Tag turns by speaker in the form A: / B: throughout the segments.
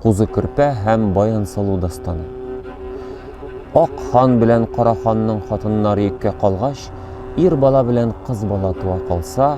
A: Кузы Көрпә һәм Баянсылу дастаны. Ак хан белән Кара ханның хатыннары йөккә калгач, ир бала белән кыз бала туа калса,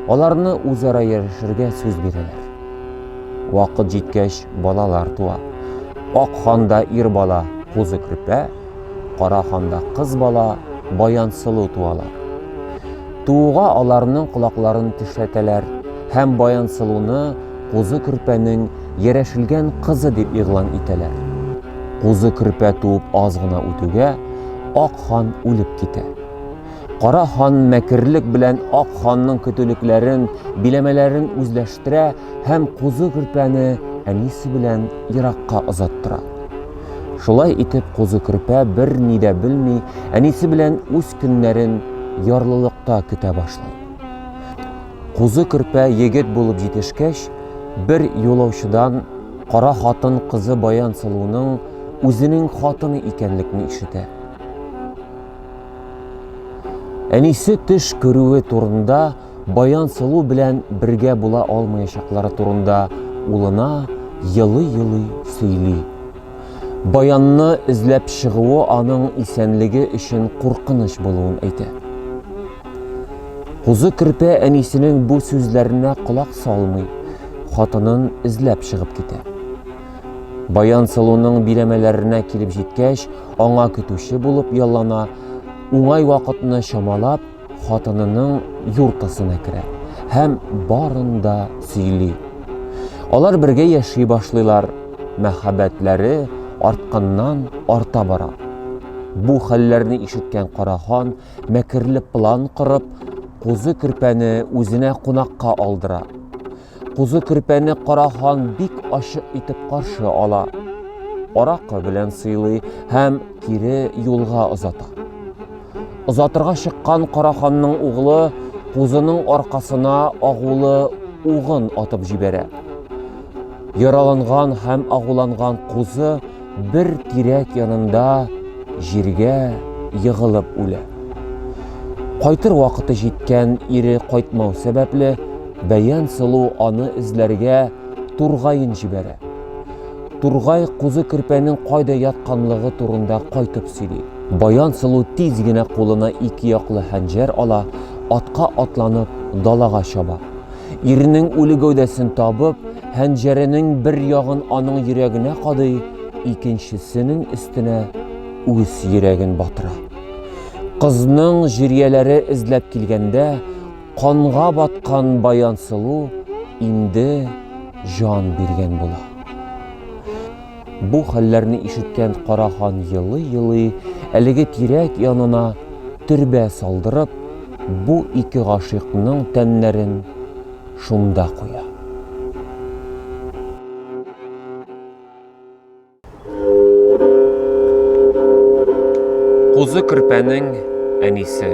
A: аларны үзара яшерергә сүз бирәләр. Вакыт җиткәч, балалар туа. Ак ханда ир бала, Кузы Көрпә, Кара ханда кыз бала, Баянсылу туалар. Тууга аларның колакларын тешләтәләр һәм Баянсылуны Кузы Көрпәнең Ярәшелгән кызы дип игълан итәләр. Кузы Көрпә туып аз гына үтүгә, Ак хан үлеп китә. Кара хан мәкерлек белән Ак ханның көтүлекләрен, биләмәләрен үзләштерә һәм Кузы Көрпәне әнисе белән еракка озаттыра. Шулай итеп Кузы Көрпә бер ни дә белми, әнисе белән үз көннәрен ярлылыкта көтә башлый. Кузы Көрпә егет булып җитешкәч, бер юлаучыдан кара хатын кызы Баянсылуның үзенең хатыны икәнлекне ишетә. Әнисе төш күрүе турында, Баянсылу белән бергә була алмаячаклары турында улына елый-елый сөйли. Баянны эзләп чыгуы аның исәнлеге өчен куркыныч булуын әйтә. Кузы Керпе әнисенең бу сүзләренә колак салмый, хатынын эзләп чыгып китә. Баян Сылуның биләмәләренә килеп җиткәч, аңа көтүче булып яллана, уңай вакытны чамалап, хатынының юртасына керә һәм барын да сөйли. Алар бергә яши башлыйлар, мәхәббәтләре артканнан арта бара. Бу хәлләрне ишеткән Карахан мәкерле план корып, кузы-көрпәне үзенә кунакка алдыра. Кузы Көрпәне Кара хан бик ачык итеп каршы ала. Аракы белән сыйлый һәм кире юлга озата. Озатырга чыккан Кара ханның углы Кузының аркасына агулы угын атып җибәрә. Яраланган һәм агуланган Кузы бер тирәк янында җиргә егылып үлә. Кайтыр вакыты җиткән ире кайтмау сәбәпле, Бәян сылу аны эзләргә Тургайын җибәрә. Тургай кузы керпәнең кайда ятканлыгы турында кайтып сөйли. Баян сылу тиз генә кулына ике яклы хәнҗәр ала, атка атланып далага чаба. Иренең үле гәүдәсен табып, хәнҗәренең бер ягын аның йөрәгенә кадый, икенчесенең өстенә үз йөрәген батыра. Кызның җирияләре эзләп килгәндә, канга баткан Баянсылу инде җан биргән була. Бу хәлләрне ишеткән Кара хан елый-елый әлеге тирәк янына төрбә салдырып, бу ике гашыйкның тәннәрен шунда куя. Кузы Керпәнең әнисе.